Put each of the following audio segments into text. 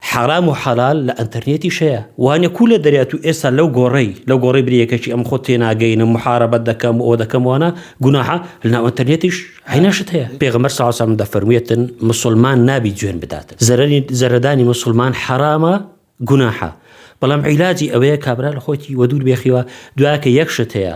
حەرام و حەلال لە ئەنتەرنێتیش هەیە وانە کوو لە دەریا تو ئێستا لەو گۆڕەی لەو گۆڕەی برێ یەکەکی ئەم خۆت تێ ناگەینم محارەبەت دەکەم و ئەوە دەکەم وانە گوناحە لە ناو ئەنتەرنێتیش هەینا شت هەیە پێغەمبەر سا سەلام دەفەرموێتن مسوڵمان نابی جوێن بداتن زەرەری زەرەدانی مسوڵمان حەرامە گوناحە بەڵام عیلاجی ئەوەیە کابرا لە خۆیتی وەدوور بێخیوە دوایەکە یەک شت هەیە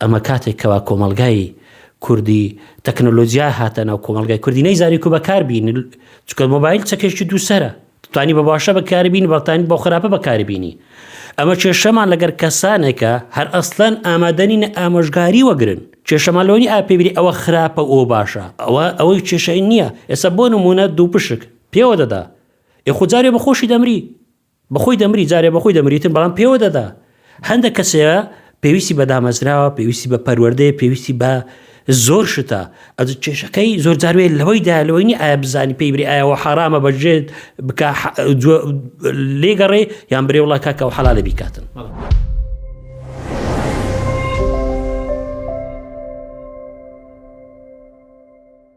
ئەمە کاتێک کەوا کۆمەڵگای کوردی تەکنۆلۆجیا هاتە ناو کۆمەڵگای کوردی نەیزانی کو بەکار بینی چکە مۆبایل چەکێکی دووسەرە توانی بە باشە بەکاری بینی بەڵتانی بۆ خراپە بەکاری بینی ئەمە کێشەمان لەگەر کەسانێکە هەر ئەسلەن ئامادەنین ئامۆژگاری وەگرن کێشەمان لۆنی ئاپێبری ئەوە خراپە ئەو باشە ئەوە ئەوەی کێشەی نییە ئێستا بۆ نمونە دووپشک پێوە دەدا ئێخجارێ بەخۆشی دەمری بەخۆی دەمری جارێ بەخۆی دەمریتن بەڵام پێوە دەدا هەندە کەسەیە پێویستی بە دامەزراوە پێویستی بە پەروەردەیە پێویستی بە زۆر شتە ئە کێشەکەی زۆر جاروێت لەوەی دا لەوەی نی ئایا بزانی پێی بری ئایەوە حرامە بەژێت بک لێگەڕێ یان برێ وڵا کاکە و حەلالە بیکاتن.